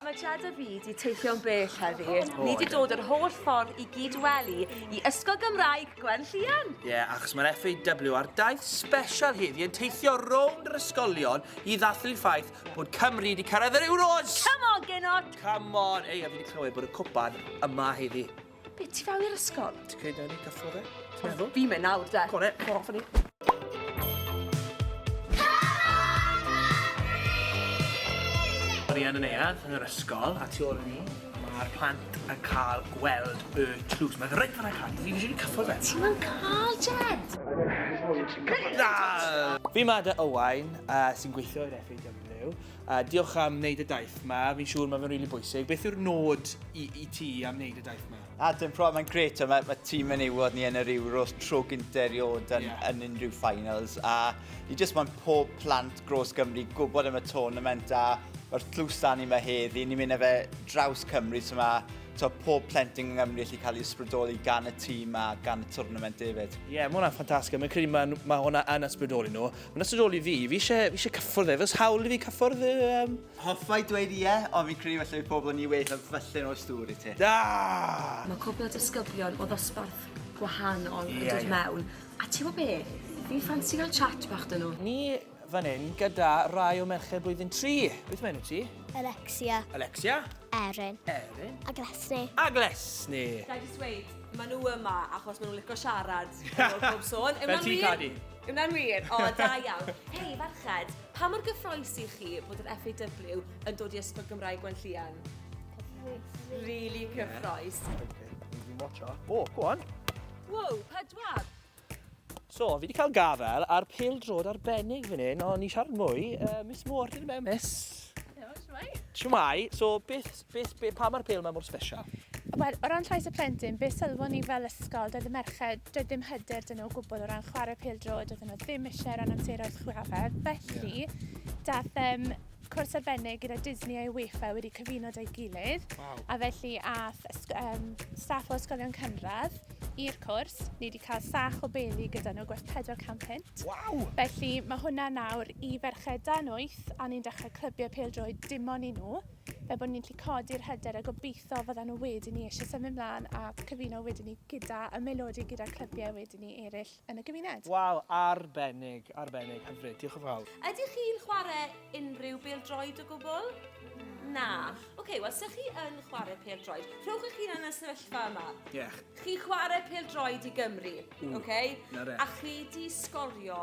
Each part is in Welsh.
Mae Jada Fi 'di teithio'n bell heddi. Oh, oh, Ni 'di dod yr holl ffordd i gyd wely i Ysgol Gymraeg Gwen Llian. Ie, yeah, achos mae'r FAW ar daith special heddi yn teithio rownd yr ysgolion i ddathlu'r ffaith bod Cymru wedi cyrraedd yr Euros! Come on, Gino! Come on! Ei, a fi wedi clywed bod y cwpan yma heddi. Be, ti fel i'r ysgol? Ti'n creid na ni gael ffordd e? Ti'n meddwl? Fi mynd nawr, de. Go on, e, go off ni. Arian yn ead yn yr ysgol, a tu ôl i ni, mae'r plant yn cael gweld y tlws. Mae'n rhaid fan eich fi eisiau cyffwrdd e. Ti'n mynd cael, Jed! Fi mae dy Owain, uh, sy'n gweithio i'r FAW. A diolch am wneud y daith ma, fi'n siŵr mae fe'n rili bwysig. Beth yw'r nod i, i ti am wneud y daith ma? A dim pro, mae'n gret, mae, mae tîm yn ewod ni yn yr Euros tro gyntaf erioed yn, yeah. yn unrhyw finals. A ni jyst mae'n pob plant gros Gymru gwybod am y tournament a mae'r tlws da ni mae heddi, ni'n mynd â fe draws Cymru, so mae to, pob plentyn yng Nghymru allu cael ei ysbrydoli gan y tîm a gan y tournament hefyd. Ie, yeah, mae hwnna'n ffantastig. Mae'n credu mae, mae hwnna yn ysbrydoli nhw. Mae'n ystod ôl i fi, fi eisiau, fi eisiau cyffwrdd e, fes hawl i fi cyffwrdd e? Um... Hoffai dweud ie, yeah, ond fi'n credu felly pobl yn ni weith a felly'n oes dŵr i ti. Da! Mae cwbl o disgyblion o ddosbarth gwahanol yn dod mewn. A ti'n gwybod be? Fi'n ffansi gael chat bach dyn nhw. Ni fan hyn gyda rai o merched blwyddyn 3. Beth mae enw ti? Alexia. Alexia? Erin. Erin. A Glesni. A Glesni. Da i just dweud, maen nhw yma achos maen nhw'n licio siarad. Fel ti, Cadi. Yna'n wir? O, oh, da iawn. Hei, farched, pa mor gyffroes i chi bod yr FAW yn dod i Ysgol Gymraeg Gwenllian? Really cyffroes. O, go on. Wow, pedwar. So, fi wedi cael gafel ar pil drod arbennig fan hyn, ond ni siarad mwy. Uh, Miss Moore, dyn mewn, Miss. Siwmai. Siwmai. So, beth, Beth, be, pam mae'r pêl yma mor special? Wel, o ran llais y plentyn, be sylfon ni fel ysgol, doedd y merched, doedd dim hyder dyn nhw o gwbl o ran chwarae pêl droed, doedd nhw ddim eisiau ran amseroedd chwarae. Felly, yeah. dath um, cwrs arbennig gyda Disney a UEFA wedi cyfuno dau gilydd. Wow. A felly ath um, staff o ysgolion cynradd i'r cwrs. Ni wedi cael sach o beli gyda nhw gwerth 400 pint. Waw! Felly mae hwnna nawr i ferched dan 8 a ni'n dechrau clybiau pel-droed dim ond i nhw. fel bod ni'n gallu codi'r hyder a gobeithio fydda nhw wedyn ni eisiau symud mlaen a cyfuno wedyn ni gyda y melodi gyda'r clybiau wedyn ni eraill yn y gymuned. Waw, arbennig, arbennig, hyfryd, diolch yn fawr. Ydych chi'n chwarae unrhyw bêl-droed o gwbl? Na. Ok, wel, os ydych chi yn chwarae pêl-droed, rhowch eich hunan yn y sefyllfa yma. Iech. Chi'n chwarae pêl-droed i Gymru, ok? Na re. A chi di sgorio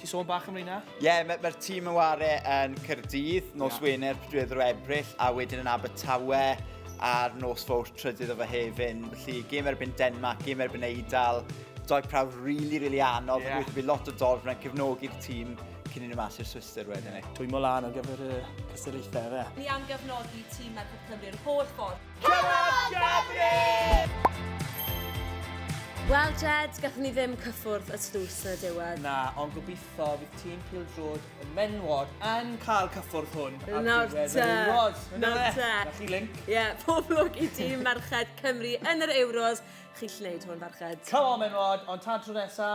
Ti sôn bach am reina? Ie, yeah, mae'r ma tîm yn ware yn Cyrdydd, nos yeah. Wener, prydwyd o Ebrill, a wedyn yn Abertawe a'r nos fawr trydydd o fe hefyn. Felly, gêm erbyn Denmark, gêm erbyn Eidal, doi prawf rili, really, rili really anodd, yeah. bydd lot o dorf yna'n cefnogi'r tîm cyn i'n mas i'r Swister wedyn ni. Dwi'n mol lan ar gyfer y cystadlaethau fe. Ni am gefnogi tîm Merched Cymru'r holl ffordd. Wel, Jed, gathen ni ddim cyffwrdd y stws yn y diwedd. Na, ond gobeithio bydd tîm Pil Drod y menwod yn cael cyffwrdd hwn. Nawr te. Nawr te. Na chi link. Ie, yeah, pob lwc i tîm merched Cymru yn yr Euros. Chi'n lleid hwn, farched. Come on, menwod, ond tan tro nesa,